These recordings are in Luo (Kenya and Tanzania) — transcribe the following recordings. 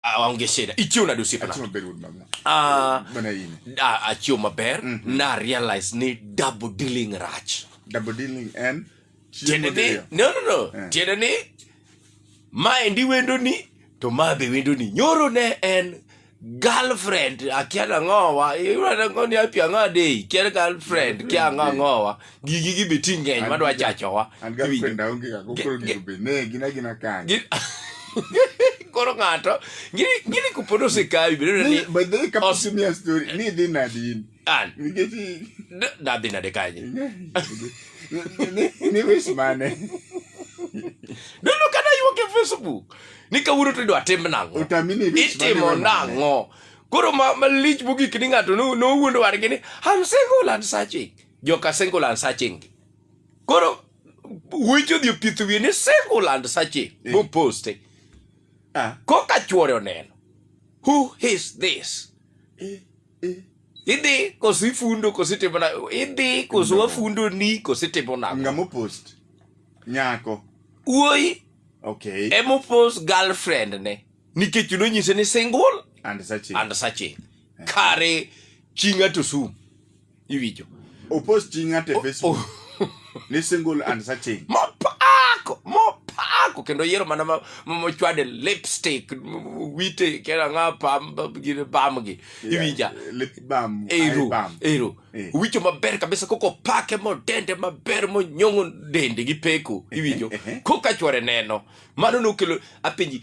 aonge shida ichiw nade osiepna ah, ah, achiw maber mm -hmm. na realize ni double dealing rach double dealing en tiende ni no no no yeah. tiende ni ma endi wendo ni to ma be wendo ni nyoro ne en girlfriend akia na ngowa iwra na ngoni apia ngade kia girlfriend kia ngowa gigi gi be ti ng'eny madwa chachowa an ga Iwinjo? kwenda onge ga kokoro Ge- ge- gibe ne gina gina kanyo Gi- koro ng'ato ngiri ngiri kupod osekawi bedo ni Ni- but they kapo Os- simia story ni dhi nadi in an nikech i- d- nadhi nade kanye ni- ni- ni wis mane dono kata yuok e facebook ni kawuono to idwa tim nang'o otami ni wis mane itimo we mane. nang'o koro ma- malich mogik ni ng'ato no- nowuondo wargi ni am single and searching joka singular searching koro weche odhi opith wiye ni singular searching Eh. moposte Ah, koka chuore oneno who is this eh, eh. idhi koso ifundo koso itimo na idhi koso wafundo ni koso itimo nago Ngamo post. Nyako. wuoyi Okay. emopos girlfriend ne nikech nonyise ni single And searching. and searching kare chi ng'ato sum iwinjo Opost chi ng'ato e Facebook ni single and searching. mopako mopako kendo yiero mana ma- ma- mochwade lipstick m- wite kera nga pam gine bam gi iwinja Yeah, Lip balm. eye ero balm. ero Eh. wicho maber kabisa koko pake modende maber monyong'o dende gi peko iwinjo eh, eh. koka chwore neno mano nokelo apenji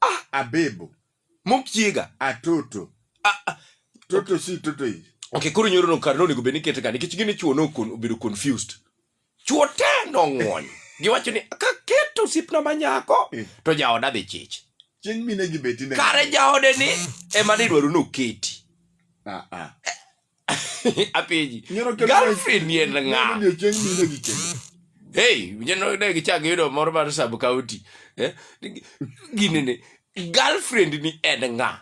Ah. Abebo. Mokiega. Atoto. Ah, ah. Toto okay. si toto yi. Okay, koro nyoro no kar no nego beni kete ka nikech gini chuo no kon obedo confused. Chuo te no ngwon. Giwacho ni ka keto sipna manyako eh. to jaoda dhi chich. Chieng mine gi beti ne. Kare jaode ni ema ni dwaro no keti. Ah ah. apenji Nyoro kelo- girlfriend ni en ng'a Nyalo odiechieng' mine gi kendo. hey jeno ne gichak yudo moro mar sub county eh? gini ni girlfriend ni en ng'a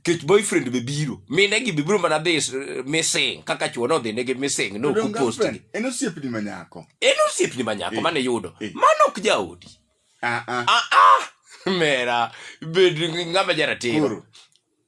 kech boyfriend be biro mine gi be biro mana dhi s- missing kaka chuo nodhi negi missing no Odong' kupost girlfriend, gi En osiepni ma nyako. en osiepni ma nyako Eh, mane yudo eh. mano ok jaodi Ah, ah. ah ah mera bed ng'ama jaratiro Koro,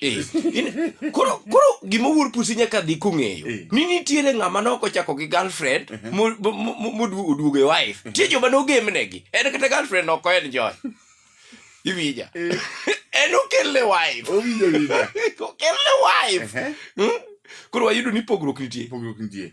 Eh, in- koro koro gima wuor pusi nyaka dhi kong'eyo Eh. ni nitiere ng'ama noko chako gi girlfriend mo- mo- mo- moduo- oduogo e wife tie joma nogemnegi en kata girlfriend ok en joy iwinja en okelne wife owinjo winja okelne wife Ehe, Hmm? koro wayudo ni pogruok nitie pogruok nitie